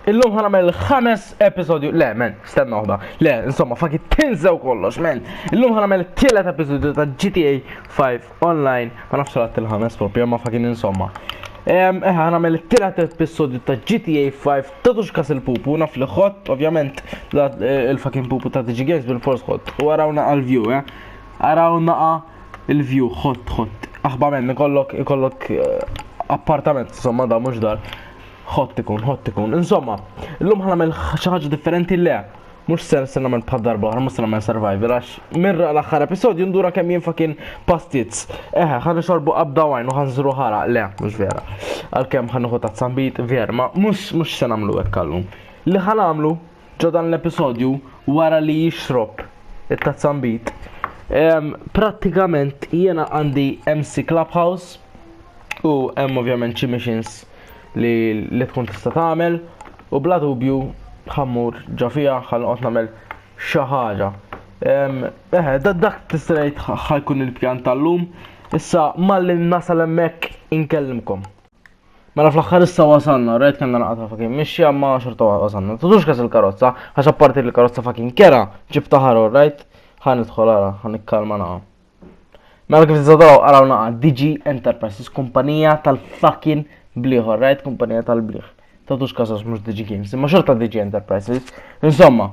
Illum ħana mel ħames episodju, le men, stenna uħda, le, insomma, fakit tinżew kollox, men. Illum ħana mel tielet episodju ta' GTA 5 online, ma nafx rat il-ħames propju, ma fakin insomma. Ehm, eħe, ħana mel tielet episodju ta' GTA 5 ta' tux kas il-pupu, naf li xott, ovvjament, eh, il-fakin pupu ta' DG Games bil-fors xott, u għarawna għal-view, eh. Għarawna għal-view, xott, xott. Aħba men, ikollok, ikollok eh, appartament, insomma, da' mux dar. Ħott ikun, ħott ikun. Insomma, illum ħa nagħmel xi ħaġa differenti le. Mhux ser se nagħmel bħal darba oħra, mhux se nagħmel survival għax mirra l-aħħar episodju ndura kemm jinfa kien pastizz. Eħe, ħa nixorbu qabda wajn u ħanżru ħara, le, mhux vera. Għalkemm ħa nieħu tazzambit, vera, ma mhux mhux se nagħmlu hekk għallum. Li ħa nagħmlu ġo dan l-episodju wara li jixrob it-tazzambit. Prattikament jiena għandi MC Clubhouse u hemm ovvjament xi missions li li tkun tista' tagħmel u bla dubju ħammur ġo fiha ħalqot nagħmel xi ħaġa. Eħe, dak tista' ngħid ħajkun il-pjan tal-lum, issa malli nasal hemmhekk inkellimkom. Mela fl-axħar issa wasanna, rajt kanna naqata fakin mixi għamma xorta wasanna. Tudux kas il-karozza, għax apparti li karozza fakin kera, ġib taħaru, rajt? Għan idħol għara, għan ikkalma naqa. Mela kif t-zadaraw għaraw naqa, DG Enterprises, kumpanija tal-fakin bliħ, rajt? Kumpanija tal-bliħ. Tudux kas għax mux DG Games, imma xorta DG Enterprises. Insomma,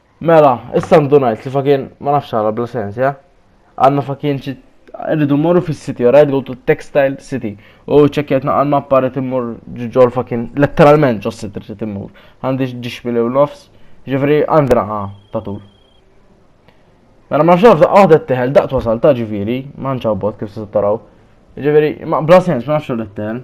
Mela, issa ndunajt li fakin ma nafx għala bla sens, ja? Għanna fakin ċi rridu morru fis-city, alright, go to textile city. U ċekjet naqal ma paret immur ġol fakin, letteralment ġos city trid immur. Għandi ġiġbili u nofs, ġifri għandi raqa ta' tul. Mela ma nafx għadet teħel daqt wasal ta' ġifiri, ma nċabbot kif se taraw. Ġifiri, ma bla sens ma nafx għadet teħel.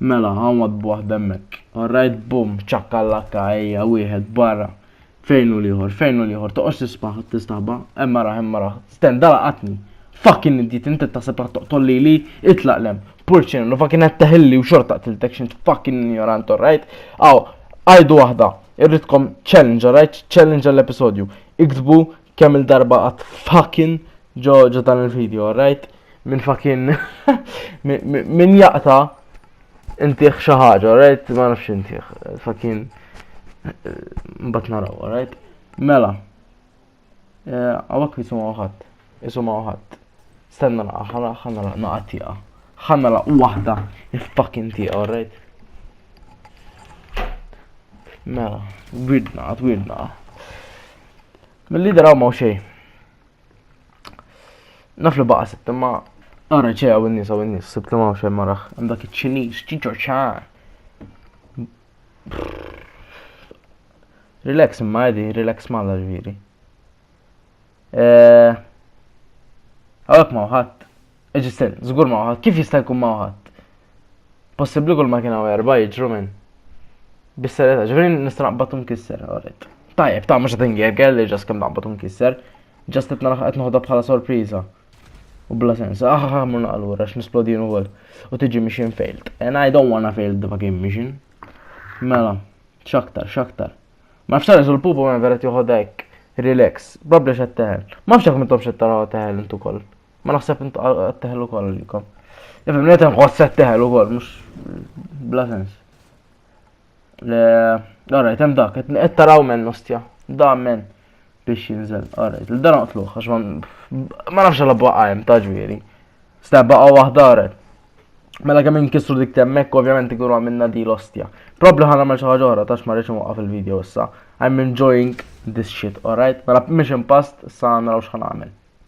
Mela, hawn waħd b'waħd hemmhekk. All right, bum, ċakka-lakka, ejja, wieħed, barra. Fejn hu l-ieħor, fejn hu l-ieħor, toqgħodx tisbaħ, tistaħba, hemm araħ, hemm araħ. Sten, da laqatni. Fucking idiot, inti taħseb raħ toqtol lili, itlaq lem. Purċin, l fucking qed teħilli u xorta qtiltek xint fucking ignorant, all right? Aw, għajdu waħda, irridkom challenge, all right? Challenge għall-episodju. Iktbu kemm il-darba għat fucking ġo ġo dan il-video, right? Min fucking min jaqta intiħ xi ħaġa, right? Ma nafx intiħ, fucking mbagħad naraw, right? Mela. Eh, Għawak jisuma uħat, jisuma uħat. Stenna la, ħana ħana la, naqa tiqa. ħana la, wahda, il-fucking tiqa, alright? Mela, wirdna, għat wirdna. Mill-lider hawn ma' xejn. Naf li baqa' sibt imma ara ċe hawn in-nies hawn in-nies sibt li ma' xejn maraħ. Hemm dak iċ-Ċiniż, ċiċo ċar. Relax imma għedi, relax malla ġviri. Għawek eh, ma' uħat, Eġisten, żgur ma waħad, kif jista' jkun ma waħad? Possibbli kull ma kien hawn erba' jiġru minn. Bis-serjetà, ġifieri nista' naqbad nkisser, orrit. Tajjeb, ta' mhux qed ingegel li ġas kemm naqbad nkisser. Ġas qed naraħ qed noħodha bħala sorpriża. U bla sens, ah, ah, ah mur naqlura x'nisplodin ukoll. U tiġi mission failed. And I don't wanna fail the fucking mission. Mela, x'aktar, x'aktar. Ma nafx tara l-pupu ma veret joħodha hekk. Relax, probably xed teħel. Ma nafx jekk mintom xed taraw teħel intu koll. Ma naħseb int għatteħlu kol għalikom. Nifem, li għatem għot setteħlu kol, mux bla sens. Għarra, jtem dak, għet taraw men nostja, da men biex jinżel, għarra, l-dan għatluħ, għax ma nafx għalla baqqa jem taġviri. Sta baqqa wahda għarret. Mela kemm inkisru dik temmek, ovvjament ikunu għamilna di l-ostja. Probabli ħana ma xaħġa oħra, tax ma rridx waqqa fil-video issa. I'm enjoying this shit, alright? Mela mission past, sa naraw xħan għamil.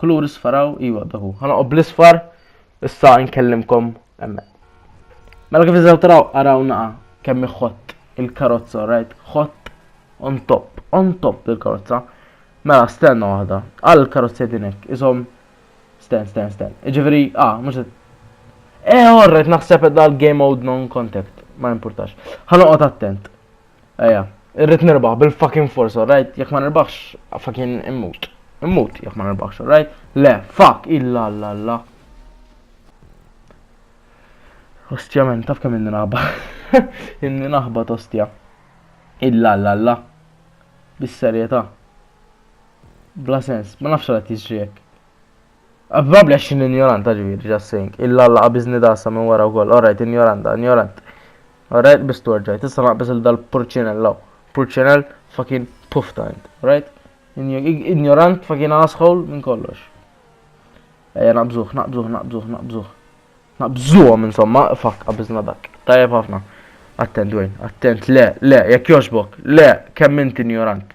Kulur isfaraw, iwa dahu. Ħana u bl-isfar, issa nkellimkom emme. Mela kif iżaw taraw, araw naqa kemm iħott il-karozza, right? Ħott on top, on top il-karozza. Mela, stenna waħda. Għal il-karozza dinek, isom sten, sten, sten. Iġifiri, ah, mux Eh, orret, naħseb dal-game mode non-contact, ma importax. Ħanoqot attent. Eja, irrit nirbaħ bil-fucking force, alright? Jek ma nirbaħx, fucking immut. Immut, jek ma nirbaħx, alright? Le, fuck, illa, illa, illa. Ostja men, taf kemm inni naħba. inni naħba tostja. Illa, illa, illa. Bis-serjeta. Bla sens, ma nafx għal tiġri jek. Probabbli għax xi injoranta ġifieri just saying. Illa Alla qabiżni dasa minn wara wkoll. Alright, injoranta, injorant. Alright, biss torġaj. Tista' naqbis il dal-purċinell law. Purċinell fucking pufta int. Alright? Injorant fucking asshole minn kollox. Ejja naqbżuh, naqbżuh, naqbżuh, naqbżuh. Naqbżuhom insomma, fuck, qabiżna dak. Tajjeb ħafna. Attent, Dwayne, attent, le, le, jekk joġbok, le, kemm int injorant.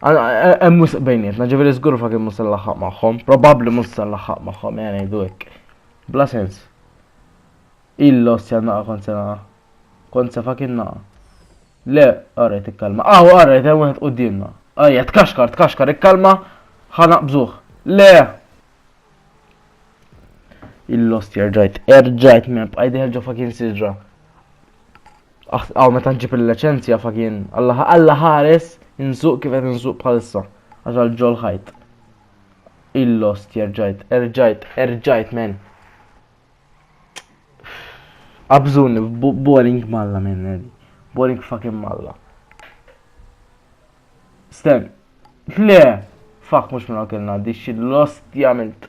Hemm wisq bejnietna, ġifieri żgur fa kien mhux se nlaħħaq magħhom, probabbli mhux se nlaħħaq magħhom, jgħan ngħidu hekk. Bla sens. Illos se naqa' kont se naqa'. Kont se fa kien naqa'. Le, għarret ikkalma. Aw, għarret, hemm wieħed qudiemna. Ajja, tkaxkar, tkaxkar, ikkalma, ħana bżuħ. Le! Il-lost jerġajt, erġajt me bqajdi ħelġo fa kien siġra. Aħ meta ġib il-leċenzja fa kien Alla ħares insuq kif qed insuq bħalissa għax għal ġol ħajt. Il-lost jerġajt, erġajt, erġajt men. Abżun, boring malla men, eh. boring fucking malla. Sten, le, fuck mux minna kellna, di xil-lost jgħamilt.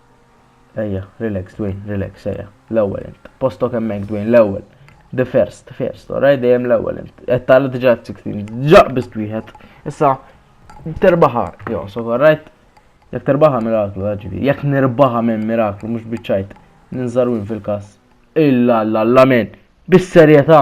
Ejja, relax Dwayne, relax, ejja. L-ewwel int. Postok hemmhekk Dwayne, l-ewwel. The first, the first, oraj dejjem l-ewwel int. Qed tagħla diġà 16, ġaq biss wieħed. Issa terbaħa, jo, so orajt. Jekk terbaħa miraklu, ġifi. Jekk nirbaħa minn miraklu, mhux biċċajt. Ninżarwin fil-każ. Illa, illa, illa, men. Bis-serjetà.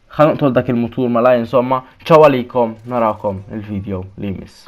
Ħa noqtol dak il-mutur malajr insomma, ċaw għalikom narakom il-video li jmiss.